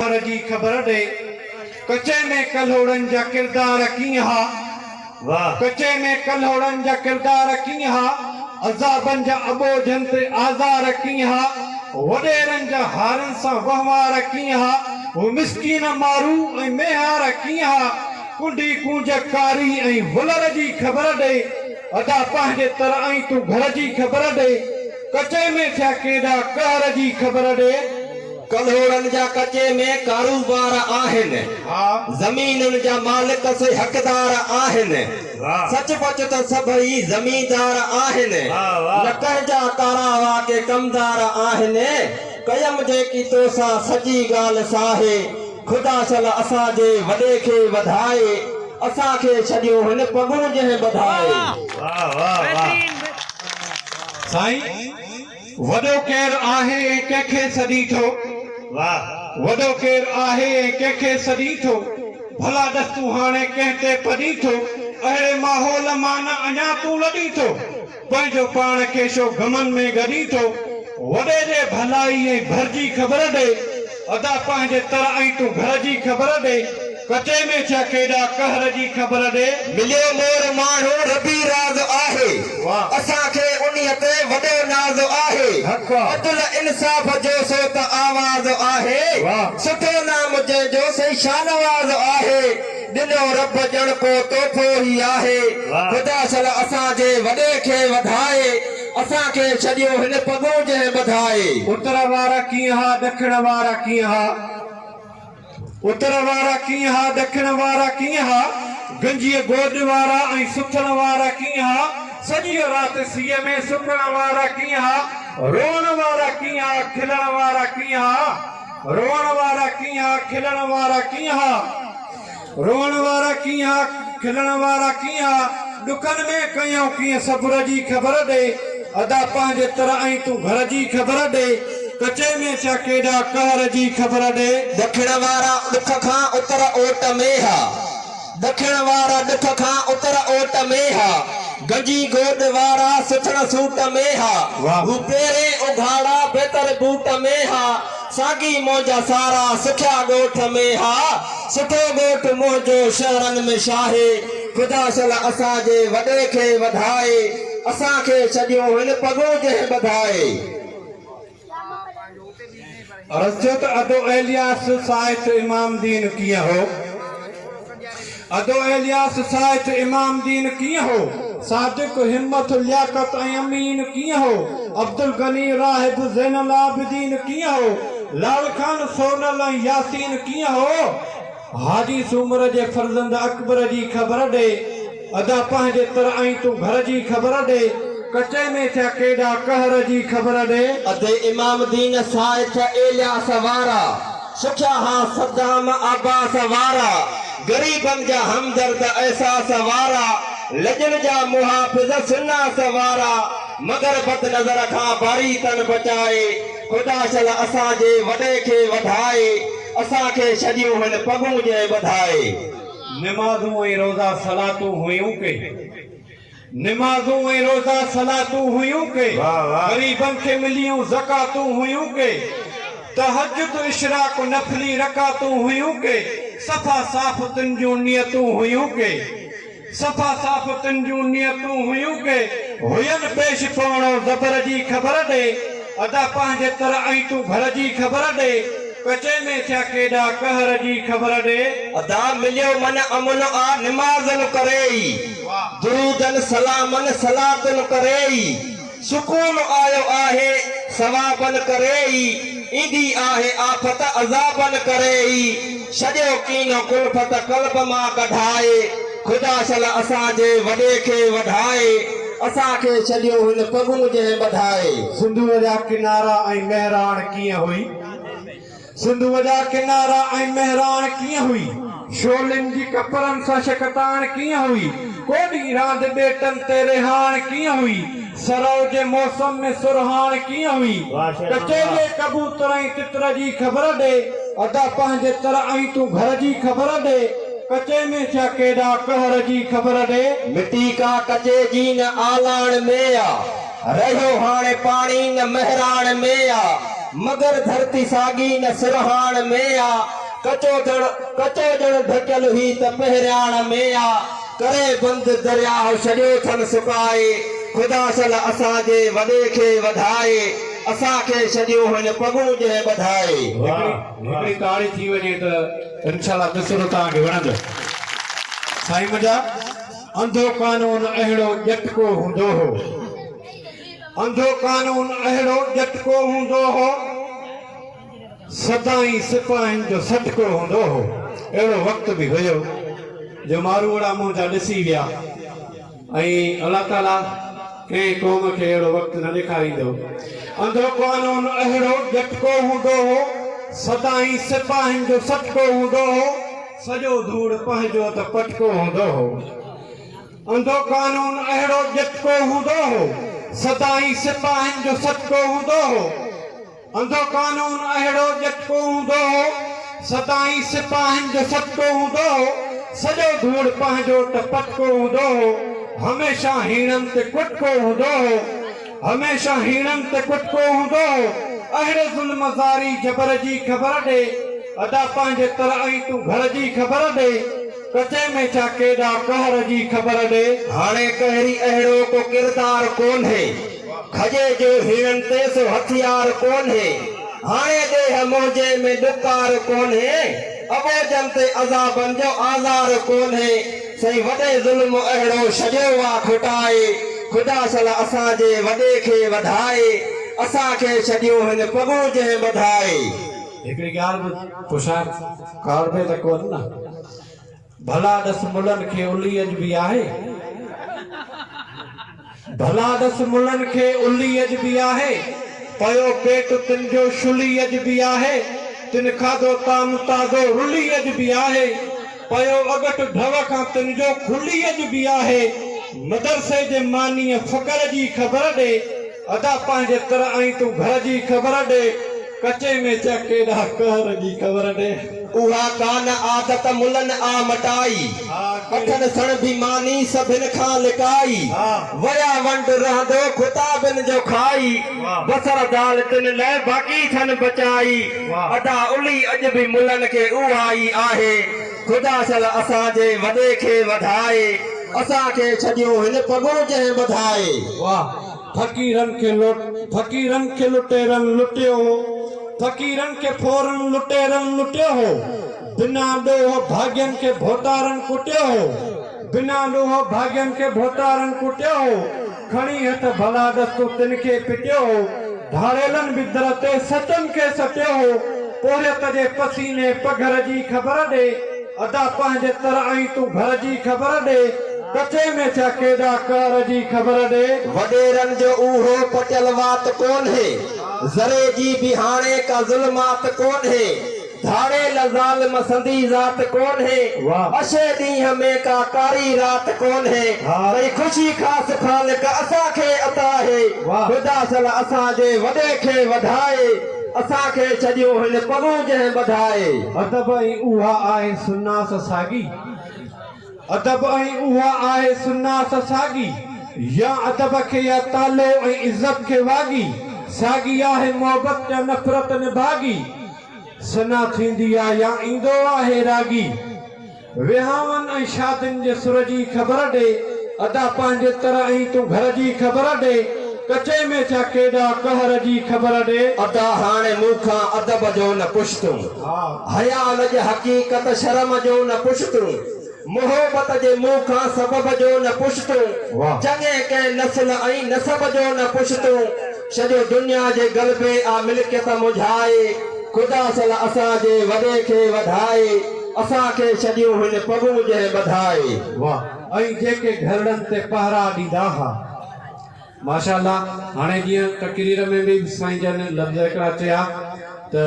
پر جي خبر ڏي. ڪچي ۾ ڪلهوڙن جا ڪردار ڪيئن ها؟ واهه. ڪچي ۾ ڪلهوڙن جا ڪردار ڪيئن ها؟ عذابن جا اٻوجهن تي آزار ڪيئن ها؟ وڏيرن جا هارن سان وهنوار ڪيئن ها؟ هو مسڪين مارو ۽ ميهار ڪيئن ها؟ ڪنڊي ڪونج ڪاري ۽ ولر جي خبر ڏي. ادا پنهنجي تر ۽ تون گهر جي خبر ڏي. ڪچي ۾ ٿيا ڪيڏا قهر جي خبر ڏي. ڪلهوڙن جا ڪچي ۾ ڪاروبار آهن. زمينن جا مالڪ سي حقدار آهن. سچ پچ ته سڀئي زميندار آهن. نه ڪنهن جا ڪارا هئا ڪي ڪمدار آهن. ڪيم جيڪي توسان سڄي ڳالهه ساهي. خدا شل اسان جي وڏي کي وڌائي. اسان کي ڇڏيون هن پڳون جنهن ٻڌائي. وڏو ڪير آهي ۽ ڪنهن کي سڏين ٿو؟ واهه! وڏو ڪير آهي ۽ ڪنهن کي سڏين ٿو؟ ڀلا ڏس تون هاڻي ڪنهن تي پڏين ٿو؟ اهڙي ماحول مان نه اڃا تون لڏين ٿو؟ پنهنجو پاڻ کي شو غمن ۾ ڳڏين ٿو؟ وڏي جي ڀلائي ۽ ڀرجي خبر ڏي. ادا پنهنجي تر ائين تون گهر جي خبر ڏي ڪچي ۾ ڇا ڪيڏا قهر جي خبر ڏي. مليو مور ماڻهو ربي راز آهي واھ. اسان کي انهي تي وڏو ناز آهي حق آ. عدل انصاف جو سو ته آواز آهي واھ. سٺو نام جنهن جو سائين شاهنواز آهي ڏنو رب ڄڻ ڪو تحفو هي آهي واھ. خدا شل اسان جي وڏي کي وڌائي. اسان کي ڇڏيو هن پڳون جنهن ٻڌائي. اتر وارا ڪيئن ها ڏکڻ وارا ڪيئن ها. اتر وارا ڪيئن ها ڏکڻ وارا ڪيئن ها. گنجيء گوڏ وارا ۽ سٿڻ وارا ڪيئن ها. سڄيء رات سيء ۾ سڪڻ وارا ڪيئن ها. روئڻ وارا ڪيئن ها کلڻ وارا ڪيئن ها. روئڻ وارا ڪيئن ها کلڻ وارا ڪيئن ها. روئڻ وارا ڪيئن ها، کلڻ وارا ڪيئن ها، ڏکن ۾ ڪيائون ڪيئن صبر جي خبر ڏي، ادا پنهنجي تر ۽ تون گهر جي خبر ڏي، ڪچي ۾ ڇا ڪيڏا قهر جي خبر ڏي. ڏکڻ وارا ڏک کان اتر اوٽ ۾ ها، ڏکڻ وارا ڏک کان اتر اوٽ ۾ ها، گنجي گوڏ وارا سٿڻ سوٽ ۾ ها. واهه پيرين اگهاڙا بهتر بوٽ ۾ ها. ساڳي منهنجا سارا سکيا ڳوٺ ۾ ها سٺو ڳوٺ منهنجو شهرن ۾ شاهي خدا شل اسان جي وڏي کي وڌائي اسان کي ڇڏيون هن پڳون جنهن ٻڌائي. عرض ٿيو ته ادو ايلياس صاحب جو امام دين ڪيئن هو؟ ادو الياس سائيٽ امام دين ڪيئن هو؟ صادق همت لياقت ۽ امين ڪيئن هو؟ عبدالغني راهب زين العابدين ڪيئن هو؟ لال خان سونل ۽ ياسين ڪيئن هو؟ حاجي سومر جي فرزند اڪبر جي خبر ڏي ادا پنهنجي تر ۽ تون گهر جي خبر ڏي. ڪچي ۾ ٿيا ڪيڏا قهر جي خبر ڏي. ادي امام دين سائيٽ الياس وارا. سکيا ها صدام عباس وارا، غريبن جا همدرد احساس وارا، لڄن جا محافظ شناس وارا، مگر بد نظر کان باري تن بچائي، خدا شل اسان جي وڏي کي وڌائي، اسان کي ڇڏيون هن پڳون جنهن ٻڌائي. نمازون ۽ روزا صلاتون هيون ڪي. نمازون ۽ روزا صلاتون هيون ڪي غريبن کي مليون زڪاتون هيون ڪي تهجد اشراق نفلي رڪعتون هيون ڪي صفا صاف تن جون نيتون هيون ڪي صفا صاف تن جون نيتون هيون ڪي هين پيش پوڻو زبر جي خبر ڏي ادا پنهنجي تر ۽ تون گهر جي خبر ڏي ڪچي ۾ ٿيا ڪيڏا قهر جي خبر ڏي. ادا مليو من امن آ نمازن ڪري ئي. درودن سلامن صلاتن ڪري ئي سڪون آيو آهي ثوابن ڪري ئي ايندي آهي آفت عذابن ڪري ئي سڄو ڪينو ڪلفت قلب مان ڪڍائي خدا شل اسان جي وڏي کي وڍائي اسان کي ڇڏيو هن پڳون جنهن ٻڌائي. سنڌوء جا ڪنارا ۽ مهراڻ ڪيئن هئي؟ سنڌوء جا ڪنارا ۽ مهراڻ ڪيئن هئي؟ شعلن جي ڪپرن سان شڪتاڻ ڪيئن هئي؟ ڪو ڏينهن راند ٻيٽن تي رهاڻ ڪيئن هئي؟ سرء جي موسم ۾ سرهاڻ ڪيئن هئي؟ ڪچي جي ڪبوتر ۽ تتر جي خبر ڏي. ادا پنهنجي تر ۽ تون گهر جي خبر ڏي. ڪچي ۾ ٿيا ڪيڏا قهر جي خبر ڏي. مٽي ڪا ڪچي جي نه آلاڻ ۾ آ. رهيو هاڻي پاڻي نه مهراڻ ۾ آ، مگر ڌرتي ساڳي نه سرهاڻ ۾ آ، ڪچو ڌڻ ڪچو ڄڻ ڍڪيل هي ته پهرياڻ ۾ آ، ڪري بند درياهه ڇڏيو ٿن سڪائي، خدا سل اسان جي وڏي کي وڌائي، اسان کي ڇڏيون هن پڳون جنهن ٻڌائي. هڪڙي هڪڙي تاڙي ٿي وڃي ته انشاء الله مصرعو توهان کي وڻندو سائين منهنجا. انڌو قانون اهڙو ڄٽڪو هوندو هو. انڌو قانون اهڙو ڄٽڪو هوندو هو. سدائين سپاهين جو سڏڪو هوندو هو. اهڙو وقت به هيو جو ماروئڙا منهن جا ڏسي ويا ۽ الله تعاليٰ ڪنهن قوم کي اهڙو وقت نه ڏيکاريندو. انڌو قانون اهڙو ڄٽڪو هوندو هو. سدائين سپاهين جو سڏڪو هوندو هو. سڄو ڌوڙ پنهنجو ته پٽڪو هوندو هو. انڌو قانون اهڙو ڄٽڪو هوندو هو، سدائين سپاهين جو سڏڪو هوندو هو. انڌو قانون اهڙو ڄٽڪو هوندو هو، سدائين سپاهين جو سڏڪو هوندو هو. سڄو ڌوڙ پنهنجو ته پٽڪو هوندو هو، هميشه هيڻن تي ڪٽڪو هوندو هو. هميشه هيڻن تي ڪٽڪو هوندو هو، اهڙي ظلم زاري جبر جي خبر ڏي، ادا پنهنجي تر ۽ تون گهر جي خبر ڏي، ڪچي ۾ ڇا ڪيڏا قهر جي خبر ڏي. هاڻي قهري اهڙو ڪو ڪردار ڪونهي، کجي جو هيڻن تي سو هٿيار ڪونهي، هاڻي ڏيهه منهنجي ۾ ڏڪار ڪونهي، اٻوجهن تي عذابن جو آزار ڪونهي. سائين وڏي ظلم اهڙو ڇڏيو وا کوٽائي خدا سلا اسان جي وڏي کي وڌائي اسان کي ڇڏيو هن پڳون جنهن ٻڌائي. هڪڙي ڳالهه به پڇان ڪاوڙ ۾ ته ڪونه نه؟ ڀلا ڏس ملن کي الهي اڄ به آهي؟ ڀلا ڏس ملن کي الي اڄ به آهي، پيو پيٽ تن جو شلي اڄ به آهي، تن کاڌو طعام تازو رلي اڄ به آهي، پيو اڳٺ ڍؤ کان تن جو کلي اڄ به آهي، مدرسي جي مانيء فڪر جي خبر ڏي، ادا پنهنجي تر ۽ تون گهر جي خبر ڏي. ڪچي ۾ چئه ڪيڏا قهر جي قبر ڏي. اها ڪانه عادت ملن آ مٽائي. اٺن سڻ ڀي ماني سڀن کان لڪائي. ويا ونڊ رهندو خطابن جو کائي. بصر دال تن لئه باقي ٿن بچائي. ادا الي اڄ به ملن کي اها ئي آهي. خدا شل اسان جي وڏي کي وڌائي. اسان کي ڇڏيون هن پڳون جنهن ٻڌائي. فقيرن کي لٽ فقيرن کي لٽيرن لٽيو هو فقيرن کي ڦورن لٽيرن لٽيو هو بنا ڏوهه ڀاڳين کي ڀوتارن ڪٽيو هو بنا ڏوهه ڀاڳين کي ڀوتارن ڪٽيو هو کڻي هٿ ڀلا ڏستو تن کي پٽيو هو ڌاڙيلن به در تي سچن کي سٽيو هو پورهيت جي پسيني پگهر جي خبر ڏي ادا پنهنجي تر ۽ تون گهر جي خبر ڏي ڪچي ۾ ڇا ڪيڏا قهر جي خبر ڏي. وڏيرن جو اهو پٽيل وات ڪونهي ذري جي به هاڻي ڪا ظلمات ڪونهي ڌاڙيل ظالم سندي ذات ڪونهي اشي ڏينهن ۾ ڪا ڪاري رات ڪونهي ڪئي خوشي خاص خالق اسان کي عطا هي خدا سل اسان جي وڏي کي وڌائي. اسان کي ڇڏيو هن پڳون جنهن ٻڌائي. ادب ۽ اها آهي سناس ساڳي. ادب ۽ اها آهي سناس ساڳي. يا ادب کي يا تالو ۽ عزت کي واڳي. ساڳي آهي محبت يا نفرت نڀاڳي. سنا ٿيندي آ يا ايندو آهي راڳي. ويهانون ۽ شادين جي سر جي خبر ڏي ادا پنهنجي تر ۽ تون گهر جي خبر ڏي ڪچي ۾ ڇا ڪيڏا قهر جي خبر ڏي. ادا هاڻي مون کان ادب جو نه پڇ تون حيا لڄ حقيقت شرم جو نه پڇ تون محبت جي مون کان سبب جو نه پڇ تون چڱي ڪنهن نسل ۽ نسب جو نه پڇ تون سڄي دنيا جي غلبي آ ملڪيت منجهائي خدا سل اسان جي وڏي کي وڌائي اسان کي ڇڏيون هن پڳون جنهن ٻڌائي. واھ ۽ جيڪي گهرڙن تي پهرا ڏيندا ها. ماشاء الله هاڻي جيئن تقرير ۾ به سائين جن لفظ هڪڙا چيا ته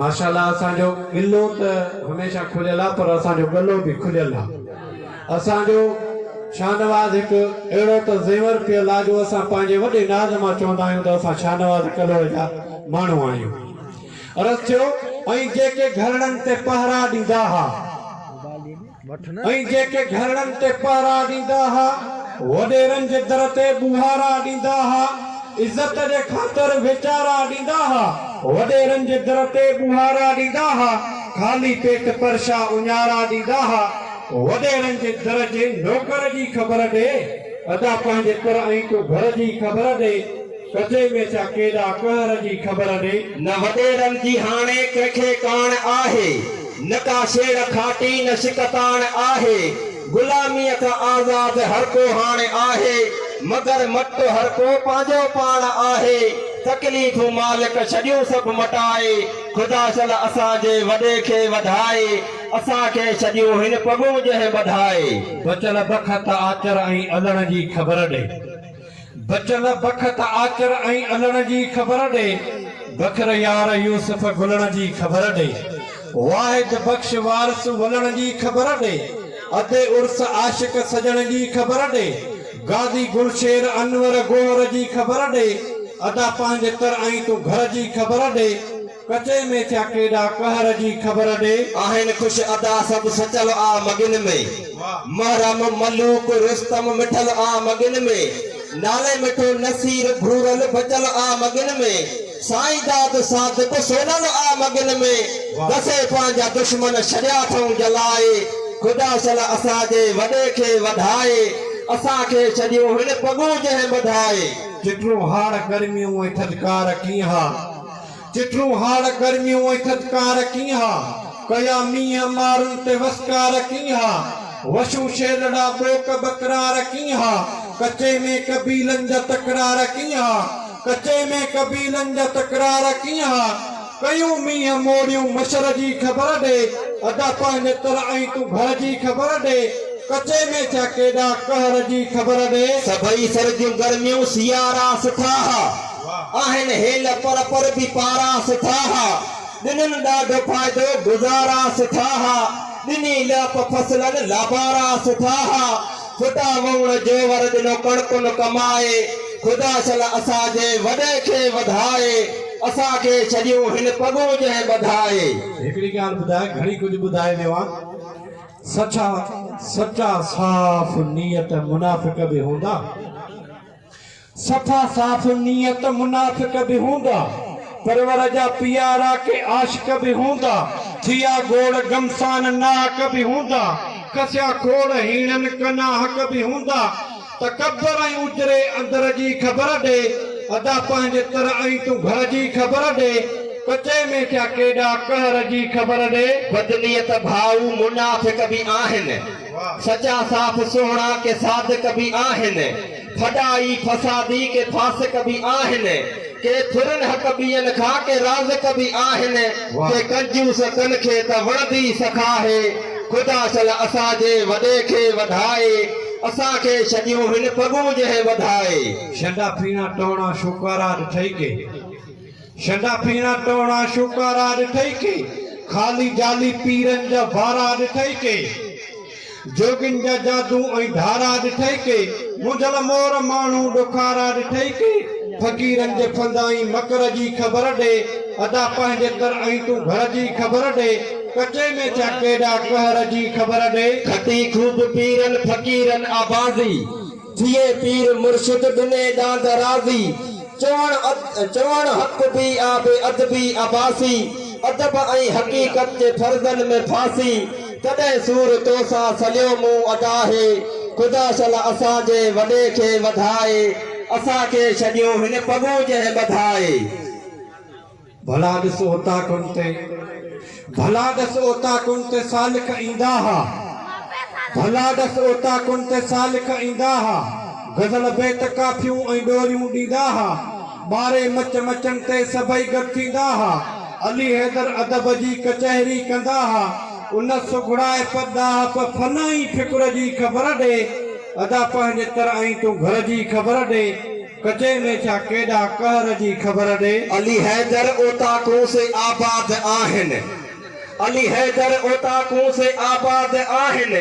ماشاء الله اسان جو قلعو ته هميشه کليل آ پر اسان جو ڳلو به کليل آ. اسان جو شاهنواز هڪ اهڙو ته زيور پيل آ جو اسان پنهنجي وڏي ناز مان چوندا آهيون ته اسان شاهنواز ڪلهوڙي جا ماڻهو آهيون. عرض ٿيو، ۽ جيڪي گهرڙن تي پهرا ڏيندا ها، ۽ جيڪي گهرڙن تي پهرا ڏيندا ها، وڏيرن جي در تي ٻوهارا ڏيندا ها، عزت جي خاطر ويچارا ڏيندا ها، وڏيرن جي در تي ٻوهارا ڏيندا ها، خالي پيٽ پرشا اڃارا ڏيندا ها، وڏيرن جي در جي نوڪر جي خبر ڏي ادا پنهنجي تر ۽ تو گهر جي خبر ڏي ڪجي ۾ ڇا ڪيڏا قهر جي خبر ڏي. نه وڏيرن جي هاڻي ڪنهن کي ڪاڻ آهي نه ڪا شيڙ کاٽي نه شڪتاڻ آهي غلاميء کان آزاد هر ڪو هاڻ آهي مگر مٽ هر ڪو پنهنجو پاڻ آهي تڪليفون مالڪ ڇڏيون سڀ مٽائي خدا شل اسان جي وڏي کي وڌائي اسان کي سڄيون هن پڳون جنهن ٻڌائي. بچل بخت آچر ۽ الڻ جي خبر ڏي. بچل بخت آچر ۽ الڻ جي خبر ڏي. بکر يار يوسف گلڻ جي خبر ڏي. واحد بخش وارث ولڻ جي خبر ڏي. ادي عرس عاشق سڄڻ جي خبر ڏي. غازي گل شير انور گوهر جي خبر ڏي. ادا پنهنجي تر ۽ تون گهر جي خبر ڏي. ڪچي ۾ ٿيا ڪيڏا قهر جي خبر ڏي. آهن خوش ادا سڀ سچل آ مڳن ۾. محرم ملوڪ رستم مٺل آ مڳن ۾. نالي مٺو نصير گهورل بچل آ مڳن ۾. سائين داد صادق سونل آ مڳن ۾. دسي پنهنجا دشمن ڇڏيا اٿئون جلائي. خدا سل اسان جي وڏي کي وڌائي. اسان کي ڇڏيون هن پڳون جنهن ٻڌائي. چٽرون هاڙ گرميون ۽ ٿڌڪار ڪيئن ها. چٽون هاڙ گرميون ۽ ٿڌڪار ڪين ها، ڪيا مينهن مارن تي وسڪار ڪين ها، وشون شيلڙا ٻوڪ ٻڪرار ڪين ها، ڪچي ۾ قبيلن جا تڪرار ڪين ها، ڪچي ۾ قبيلن جا تڪرار ڪين ها، ڪيون مينهن موڙيون مشر جي خبر ڏي، ادا پنهنجي تر ۽ تون گهر جي خبر ڏي، ڪچي ۾ ڇا ڪيڏا قهر جي خبر ڏي. سڀئي سرڳيون گرميون سيارا سٺا ها. آهن هيل پر پر به پارا سٺا ها ڏنن ڏاڍو فائدو گذارا سٺا ها ڏني لئپ فصلن لابارا سٺا ها فٽا وئوڻ جوور ڏنو ڪڻڪن ڪمائي خدا شل اسان جي وڏي کي وڌائي اسان کي ڇڏيون هن پڳون جنهن ٻڌائي. هڪڙي ڳالهه ٻڌاء گهڻي ڪجهه ٻڌائي ويو آن سچا سچا صاف نيت منافق به هوندا. صفا صاف نيت منافق به هوندا، پرور جا پيارا ڪي عاشق به هوندا، ٿيا گوڙ گمسان ناحق به هوندا، کسيا کوڙ هيڻن ڪناحق به هوندا، تڪبر ۽ اجري اندر جي خبر ڏي، ادا پنهنجي تر ۽ تون گهر جي خبر ڏي، ڪچي ۾ ٿيا ڪيڏا قهر جي خبر ڏي. بدنيت ڀائو منافق به آهن. سچا صاف سهڻا ڪي صادق به آهن، ڦڏا ئي فسادي ڪي فاسق به آهن، ڪي ٿورن حق ٻين کان ڪي رازق به آهن، ڪي ڪنجوس تن کي ته وڻندي سک آهي، خدا شل اسان جي وڏي کي وڌائي، اسان کي ڇڏيون هن پڳون جنهن وڌائي. شنڊا پيڻا ٽوڻا شوڪارا ڏٺئي ڪي. شنڊا پيڻا ٽوڻا شوڪارا ڏٺئي ڪي، خالي جالي پيرن جا وارا ڏٺئي ڪي، جوڳين جا جادو ۽ ڌارا ڏٺئي ڪي، مونجهل مور ماڻهو ڏکارا ڏٺئي ڪي، فقيرن جي ڦندائين مڪر جي خبر ڏي، ادا پنهنجي تر ۽ تون گهر جي خبر ڏي، ڪچي ۾ ٿيا ڪيڏا قهر جي خبر ڏي. کٽي خوب پيرن فقيرن آبازي. ٿئي پير مرشد ڏني ڏاند راضي. چوڻ چوڻ حق بي آ بي ادبي عباسي. ادب ۽ حقيقت جي فرضن ۾ ڦاسي. تڏهن سور تو سان سليو مون ادا هي. خدا شل اسان جي وڏي کي وڌائي. اسان کي ڇڏيون هن پڳون جنهن ٻڌائي. ڀلا ڏس اوطاقن تي، ڀلا ڏس اوطاقن تي سالڪ ايندا ها، ڀلا ڏس اوطاقن تي سالڪ ايندا ها، غزل بيت ڪافيون ۽ ڏوريون ڏيندا ها، ٻاري مچ مچن تي سڀئي گڏ ٿيندا ها، علي حيدر ادب جي ڪچهري ڪندا ها، ان سگهڙائپ ڏاهپ فن ۽ فڪر جي خبر ڏي، ادا پنهنجي تر ۽ تون گهر جي خبر ڏي. ڪچي ۾ ڇا ڪيڏا قهر جي خبر ڏي. علي حيدر اوطاقون سي آباد آهن. علي حيدر اوطاقون سي آباد آهن.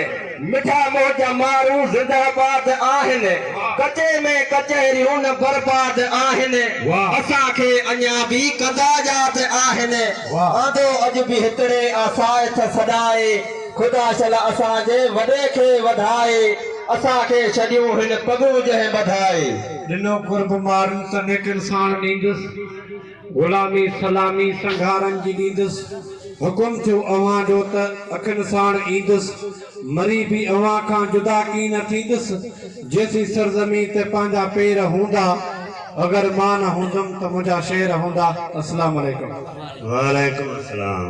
مٺا موج جا مارو زنده باد آهن. ڪچي ۾ ڪچهريون نه برباد آهن. اسان کي اڃا به ڪندا ياد آهن. آندو اڄ به هتڙي آ ساء تھ سڏائي. خدا شل اسان جي وڏي کي وڌائي. اسان کي ڇڏيون هن پڳون جنهن ٻڌائي. ڏنو قرب مارن ته نيڪن ساڻ ڏيندس. غلامي سلامي سنگهارن جي ڏيندس. حڪم ٿيو اوهان جو ته اکين ساڻ ايندس. مري به اوهان کان جدا ڪين نه ٿيندس. جيسين سرزمين تي پنهنجا پير هوندا. اگر مان نه هوندم ته منهنجا شير هوندا. السلام عليڪم. وعليڪم السلام.